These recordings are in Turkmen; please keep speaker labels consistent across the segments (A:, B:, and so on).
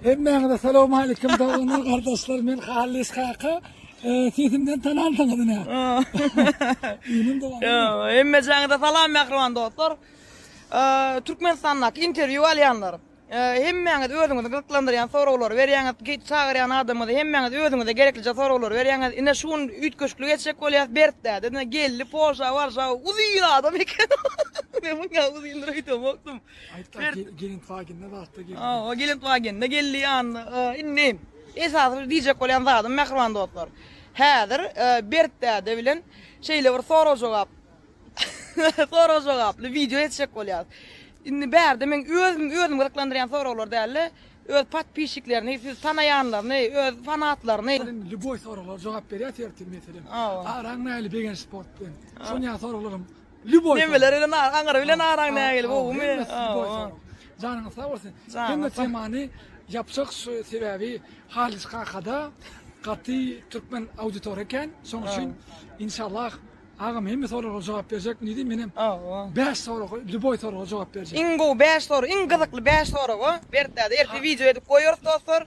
A: Hemmäňize salawmalikim doganlar gardaşlar men Hallis kaka sesimden tanansyňyz ine. Ýynym dogan. Hemme jaňyda salam mähriban dostlar. Türkmenistandaky interwýu alýanlar. Hemmäňiz özüňizi gyzyklandyrýan soraglary berýäňiz, çagyrýan adamyňyzy hemmäňiz özüňize gereklije soraglary berýäňiz. Ine şu gün üýtgeşiklik etjek bolýas Bertdäde. Ine geldi Polşa, Warşawa uzyn adam eken. Men muňa uzyndyr öýdemokdym. Ber- Ge- Gelin Fagin'de zatta gelin. Aa, o gelip wagende geldi ýanyna. Aa, Indi esasy bir diýjek bolýan zadym mähriban dostlar. Häzir e, Bert däde bilen şeýle bir sorag jogap sorag jogaply wideo etjek bolýarys. Indi bärde men özüm özüm gyzyklandyrýan soraglar däl-de, öz podpişiklerini, siz tanaýanlaryny, öz fanatlaryny Sen Lüboý soralar jogap berýär tertip meselem. Awa. Araň näli begenç sport bilen. Şonýa soraglarym Ljuboý. Nemeler bilen ar, aňyr bilen araň nägile bowmy? Janyňyz sag bolsun. Hemme temany ýapjak şu sebäbi Halyç kakada gaty türkmen auditoriýa eken. Şoň üçin inşallah Agam hemme soralara jogap berjek. Ne diýim menem? Awa. 5 soraga, ljuboý soraga jogap berjek. Iň gowy 5 sorag, iň gyzykly 5 soraga Berkdäde ertir wideo edip goýarys dostlar.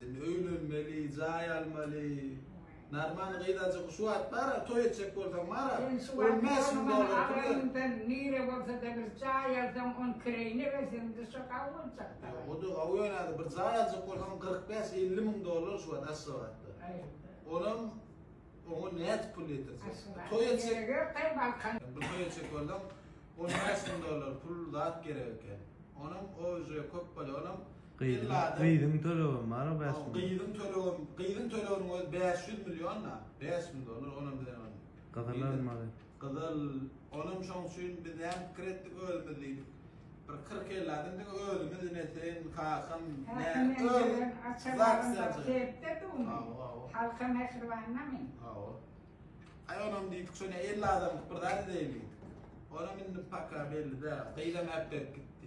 A: Sen öýlenmeli, jaý almaly. Narman gyzajyk şu wagt bara toý etjek bolsaň bara Sen şu wagt bolmasaň agayymdan nire bolsada bir jaý alsaň on kireýine berseň duşa gawy boljak dagay. Ýok oda gawy ýöne hadi bir jaý aljak bolsaň kyrk bäş elli müň dollar şu wagt Aşgabatda. Onam oňa nädip pul ýetirjek. Toý etjek. Bir toý etjek bolsaň on bäş müň dollar pul zat gerek eken. Onam o uje köp bolýar. Onam Gyzyň tölegem bar o bäş müň. Gyzyň tölegem, gyzyň töleginiň özi bäş ýüz million-da, bäş müň dollar, onam bizem bar. Gyzyl almaly. Gyzyl, onam şoň üçin biz näme pikir etdik özümiz diýdik. Bir kyrk-elli adam diňe özümiz, ine sen, kakam, men, özümiz zaksy ýaçak. Sebitde dugmy? Hawa, hawa. Halka mähribanynamy? Hawa. Aý onam diýdik, şonda elli adamlyk bir zat edeýin diýdik. Onam indi paka belli däl. Gyzam äpdirip gitdi.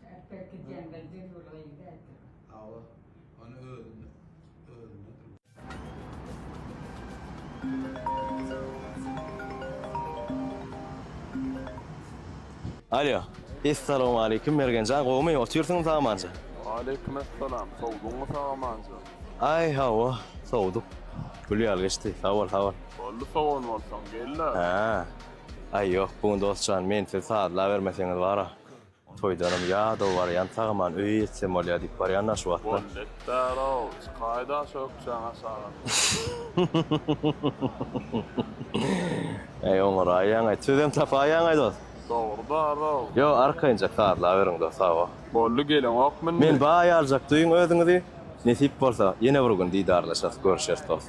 A: Çärkek gidende Dilgül gyzy äkidip. Hawa, ony özüne öwürmek. Alýo. Essalowmaleýkim, Mergen jan, gowumy? Otyrsyňmy sagamanja? Waleýkim essalam, sowduňmy sagamanja? Aý, hawa, sowduk. Gül ýaly geçdi. Sag bol, sag bol. Boldy, sowan bolsaň, gel-le. Hä. Aý, ýok, bu gün dos jan, men sizi sazlabermeseňiz bar-a. Toýdanam ýadaw barýan, sagaman öýe ýetsem bolýa diýip barýan daş wagtda. Bol betdarow, çykaý daş ökjäň aşaga. Äý oňaraýaňaý, sözem tapaýaňaý dost. Dogrydarow. Ýo, arkaýynja sazlaberiň dost, hawa. Boldy, geleňokmy indi? Men baý aljak duýuň özüňizi, nesip bolsa ýene bir gün didarlaşarys, görüşeris dost.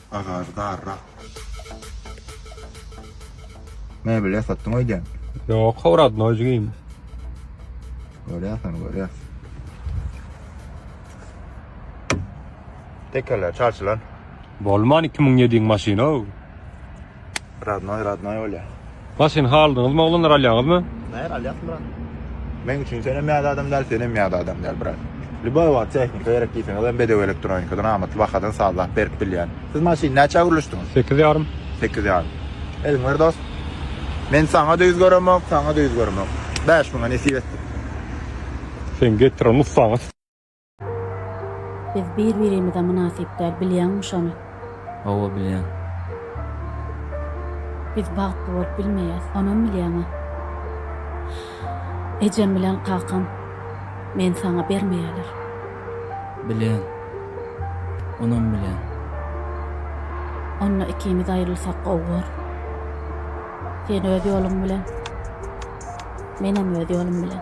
A: Agajy darrak. Mebel ýasatdyň öýdýän. Ýok, howradnoý jigim. Görýäs ony, görýäs. Tekerler çalşylan. Bolman 2007-iň maşyny-ow. Radnoý radnoý bolýar. Maşyn haldyňyzmy oglanlar alýaňyzmy. Nähili alýas brat. Meň üçin senem ýada adam däl senem ýada adam däl brat. Lýuboý wagt tehnika gerek diýseňiz hem bedew elektronikadan amatly bahadan sazlap berip bilýän. Siz maşyny näçä gürleşdiňiz? Sekiz ýarym. Sekiz ýarym. Eliňi ber dost. Men saňa da ýüz göremok, saňa da ýüz göremok. Bäş müňe nesip etsin. Sen getir o nussaňy. Biz bir-birimize mynasyp däl, bilýäňmi şony? Hawa, bilýän. Biz bagtly bolup bilmeýäs, onam bilýäň-ä. Ejem bilen kakam meni saňa bermeýärler. Bilýän. Onam bilýän. Onda ikimiz aýrylsak gowy bor. Sen öz ýoluň bilen, menem öz ýolum bilen.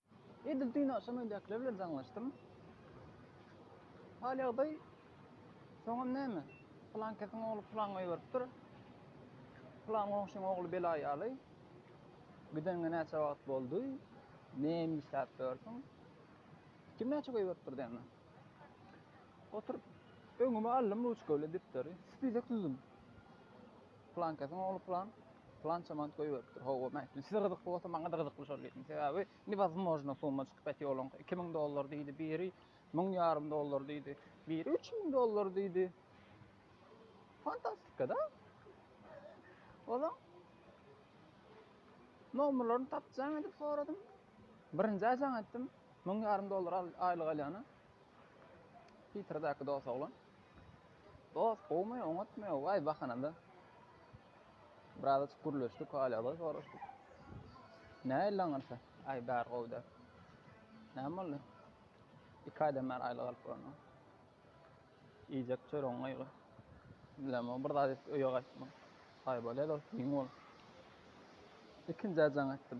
A: Edil düýn agşam öýdäkiler bilen jaňlaşdym. Hal-ýagdaý, soňam näme? Pylankesiň ogly pylaňa ýüzberipdir. Pylan goňşyň ogly bela ýaly. Gideniňe näçe wagt boldy? Näme işläp ýörsüň? Kim näçe goýberipdir däne? Oturyp, öňüme aldym ruçka bilen depderi. Spisek düzdüm. Plankasyň ogly plan, plança mant goýberipdir. Hawa, men aýtdym, size gyzykly bolsa, maňa-da gyzykly şol diýdim. Sebäbi newozmojno summa çykyp bet ýoluň. Iki müň dollar diýdi biri, müň ýarym dollar diýdi, biri üç müň dollar diýdi. Fantastika-da. Ola nomerlerini tapjaň edip soradym. Birinji aýjaň etdim. Müň ýarym dollar aýlyk alýany. Piterdäki dos oglan. Dost gowmy oňatmy waý bahanada birazajyk gürleşdik hal ýagdaý soraşdyk. Nähili aňyrsa aý bäri gowy däl. Näme boldy? Iki aýdan bäri aýly galyp görnüň. Iýjek çöregiň gaýgy. Bilemok bir zat edip öýe gaýtma. Aý bolýa dost giň bol. Ikinji aýjaň etdim.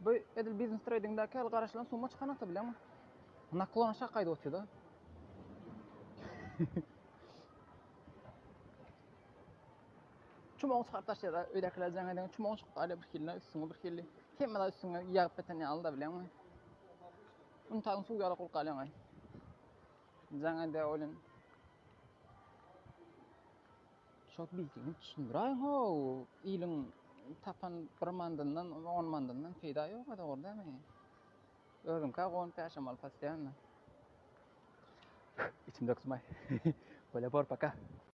A: Bu edil biznes treýdingdäki ýaly garaşylan summa çykanakda bileňmi? Naklon aşak gaýdyp otyr-da. Çumagyny çykaryp taşlaýar-da, öýdäkiler jaň edende çumagyny çykaryp alýar bir hilini, üstüňi bir hili. Hemme zat üstüňe ýagyp beten ýaly-da bileňmi? Unitazyň suwy ýaly gurup galýaň-aý. Jaň edýär oýlan. Şol bildigiňi düşündiräýiň-how! Iliň tapan bir mandyndan, on mandyndan peýda ýok-a, dogry dälmi? Özüňkä gon päşemal postoýanno. Içimde gysym-aý. Bolýa bor, paka!